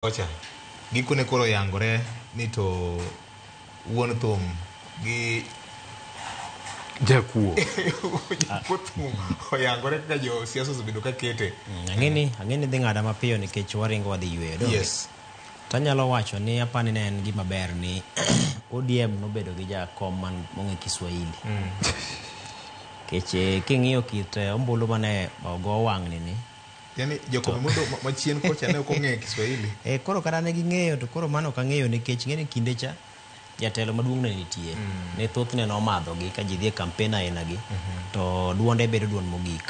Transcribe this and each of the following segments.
kocha gikone koro yangore ni to wuon thum gi jakuo thum oyangore kaka jo siasa osebedo ka kete ang'eni ang'eni dhi ng'ada mapiyo nikech waringo wadhi yweyo do yes tanyalo wacho ni apani ne en gima ber ni odm nobedo gi jakom man mong'e kiswahili nikech eh, king'iyo kit eh, ombulu mane ogo wang'ni ni Yani Jakobo mondo machien kocha ne ok ong'eyo Kiswahili. Eh, koro kata ne ging'eyo to koro mano ok ang'eyo nikech ng'e ni kinde cha jatelo maduong' ne nitie mm. ne thothne nomadhogi ka ji dhi e kampen ainagi mm -hmm. to duonde bedo duond mogik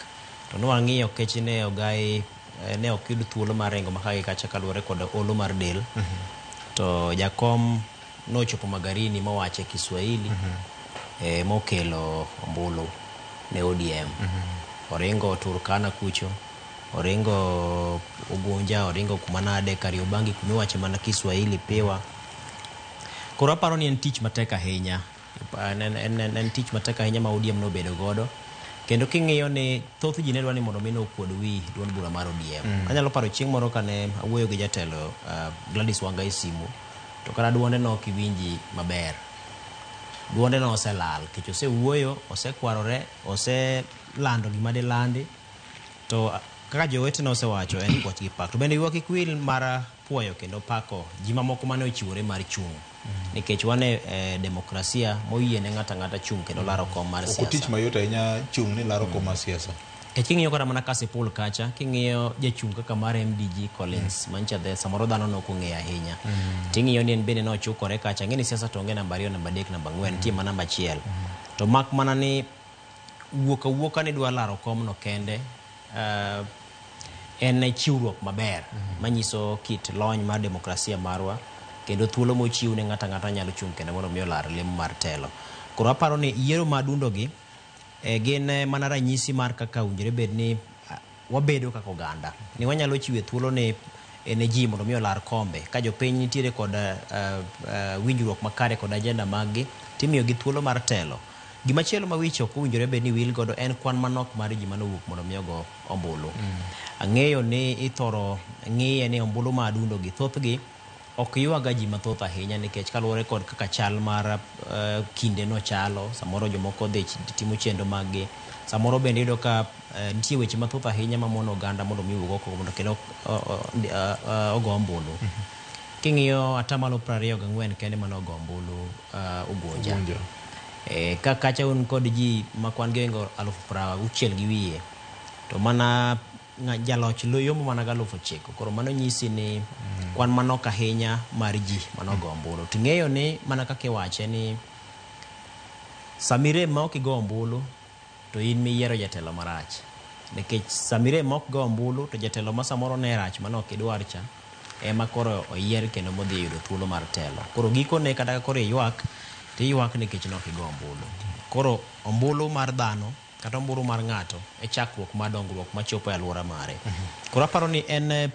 to nwang'iyo kechi ne ogai eh, ne ok yud thuolo mar ringo makagi kacha kaluwore kod olo mar del mm -hmm. to jakom Nochopo Magarini mowache Kiswahili eh, mokelo ombulu ne ODM. Oringo Turkana kucho, oringo Ugunja, oringo kuma nade Kariobangi kuma iwache mana Kiswahili piwa. Koro aparo ni en tich matek ahinya En, en, en, en, en tich matek ahinya ma ODM nobedo godo kendo king'iyo ni thoth ji ne dwa ni mondo mi nokuod wi duond bura mar ODM. Mm. Anyalo paro chieng' moro kane awuoyo gi jatelo uh, Gladys Wanga e simu to kata duonde no ok iwinji maber. Duonde no oselal nikech osewuoyo, osekwarore, oselando gima dilandi to uh, kaka jowetene osewacho en kwach gi pak. To bende ywak kik wil mar puoyo kendo pako ji mamoko mane ochiwore mar chung' nikech wan e e demokrasia moyie ne ng'ato ang'ata chung' kendo laro kom mar Ok otich siasa mayot ahinya chung' ni laro kom mar siasa. nikech king'iyo kata mana kasipul kacha king'iyo jachung' kaka mar mdg collins mancha the samoro dhano ne ok ong'eyo ahinya ting'iyo ni en bende ne ochukore kacha ng'e ni siasa to onge namba ariyo namba adek namba ang'wen nitie mana namba achiel to mak mana ni wuok awuoka ni dwa laro komno kende uh, en chiwruok maber mm -hmm. manyiso kit lony mar demokrasia marwa kendo thuolo mochiw ne ng'ata ng'ata nyalo chung' kendo mondo mi olar lemo mar telo koro aparo ni yiero madundogi e, eh, gin eh, mana ranyisi mar kaka winjore bed ni ah, wabedo kaka oganda ni wanyalo chiwe thuolo ni eh, ne ji mondo mi olar kombe ka jopiny nitiere kod uh, uh, winjruok makare kod ajenda maggi timiyogi thuolo mar telo Gima chielo ma wich ok owinjore bed ni wil godo en kwan manok mar ji mane owuok mondo mi ogo ombulu. Ang'eyo ni ithoro ng'iye ni ombulu ma adundo gi thothgi ok ywaga ji mathoth ahinya nikech kaluwore kod kaka chal mar eh, kinde no chalo, samoro jomoko odhi ch- timo chenro mag gi. Samoro bende iyudo ka eh, nitie weche mathoth ahinya ma mono oganda mondo mi owuog oko mondo kendo o- o- ndi- ah, ah, ogo ombulu. King'iyo atamalo 24 kende mane ogo ombulu Uh, Ugunja. Ugunja. E, eh, ka kacha un kod ji ma kwan gi oingo alufu prawa uchiel gi wiye to mana jaloch loyomo mana galufu chiko koro mano nyisi ni mm. kwan manok ahinya mar ji manogo ombulu to ing'eyo ni mana kaka iwache ni samirem ma ok igo ombulu to in miyiero jatelo marach nikech sama irem ok go ombulu to jatelo ma samoro ne rach mane ok idwar cha ema koro oyier kendo modhi yudo thuolo mar telo. Koro gikone kata ka koro iywak to iywak nikech ne ok igo ombulu. Koro ombulu mar dhano kata ombulu mar ng'ato e chakruok mar dongruok machopo e aluora mare. Koro aparo ni en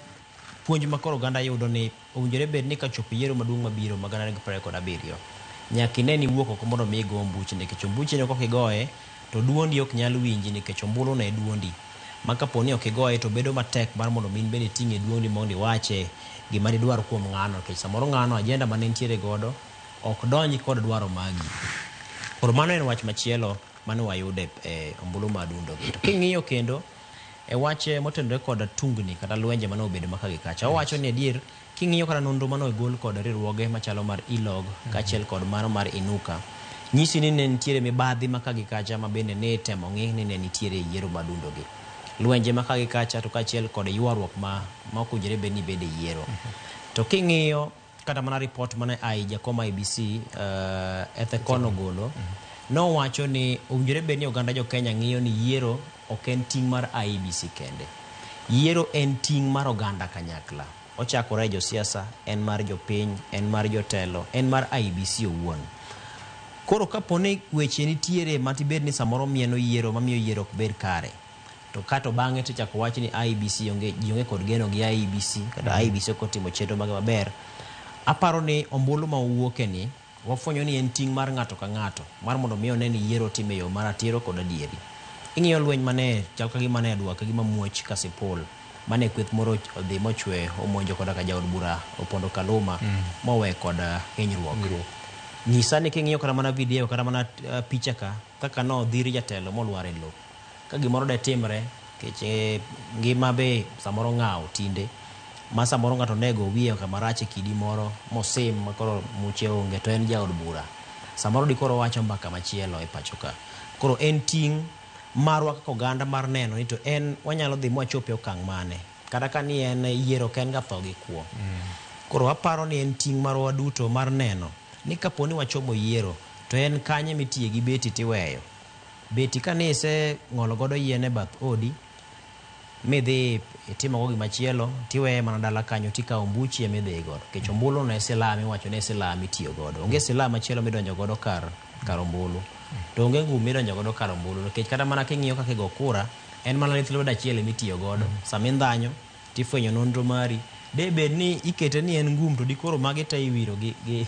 Puonj ma koro oganda yudo ni owinjore bed ni kachopo yiero maduong' mabiro ma gana ariyo gi piero ariyo kod abiriyo, nyaka ine ni iwuok oko mondo omi igo ombuchi nikech ombuchino ka ok igoye to duondi ok nyal winji nikech ombuluno e duondi ma kapo ni ok igoye to bedo matek mar mondo omi in bende iting'e e duondi mondo iwache gima didwar kuom ng'ano nikech samoro ng'ano agenda mane entiere godo ok donj kod dwaro magi. Koro mano en wach machielo mane wayudo e ombulu ma adundo gi. To king'iyo kendo E wach motenore kod tungni kata lwenje mane obedo maka gi kacha, owacho ni adier king'iyo kata nonro mane ogol kod riwruoge machalo mar ILOG kaachiel kod mano mar Inuka, nyisi ni ne nitiere mibadhi maka gi kacha mabende ne itemo ng'i ni ne nitiere e yiero madundogi. Lwenje maka gi kacha to kaachiel kod ywaruok ma ma ok owinjore bed ni bedo e yiero. To king'iyo Kata mana ripot mane a i jakoma IBC uh, Ethekon ogolo mm -hmm. nowacho ni owinjore bed ni oganda jo Kenya ng'iyo ni yiero ok en ting' mar IBC e kende. Yiero en ting' mar oganda kanyakla. Ochakore e josiasa, en mar jopiny, en mar jotelo, en mar IBC e owuon. Koro kapo ni weche nitiere matibed ni samoro mieno yiero mamiyo yiero ok bed kare, to kato bang'e to ichako wach ni IBC onge ji onge kod geno gi IBC kata mm. IBC ok otimo chenro mage maber. Aparo ni ombulu ma uwuoke ni wafwenyo ni en ting' mar ng'ato ka ng'ato mar mondo mi one ni yiero time yo mar atiro kod adieri. Ing'iyo lweny mane chal ka gima ne adwa ka gima muoch ka sipul mane kweth moro odhi mochwe omonjo koda ka jaod bura opondo Kaluma mm. mowe kod uh, hinyruok. Nyisa ni king'iyo kata mana video kata mana uh, picha ka kaka nodhiri jatelo molwar e lowo. Ka gimoro de timre, kech e ngima be samoro ng'awo tinde, ma samoro ng'ato ne go wiye kama rach e kidi moro mosim ma koro muche onge to en jaod bura. Samoro di koro owacho mbaka machielo e pacho ka. Koro en ting' marwa kaka oganda mar neno ni to en wanyalo dhi mwachop e okang' mane. Kata ka ni en yiero ok en ga tho gi kwo. Koro aparo ni en ting' marwa waduto mar neno ni kapo ni wachomo yiero to en kanye mitiye gi beti tiweyo. Beti ka ne ise ng'olo godo yien e bath odi mi dhi itimo go gima chielo ti weye mana dala kanyo ti kawo ombuchi emi dhi godo kech ombulu ne silami wacho ne silami tiyo godo onge silam machielo mi donjo godo kar kar ombulu to onge ngum mi donjo godo kar ombulu nikech kata mana king'iyo kaka igo kura en mana lith lwedo achiel emi tiyo godo sami ndhanyo ti fwenyo nonro mari de bed ni ikete ni en ngum to dikoro magi te iwiro gi, gi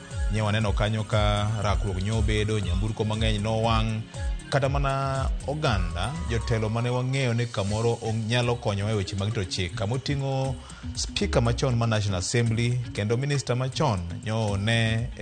Nye waneno kanyo ka rakruok nyo bedo, nyamburko mang'eny nowang', kata mana oganda jotelo mane wang'eyo ni kamoro nyalo konyowa e weche mag rito chik kama oting'o spika machon ma National Assembly kendo minista machon nyo ne e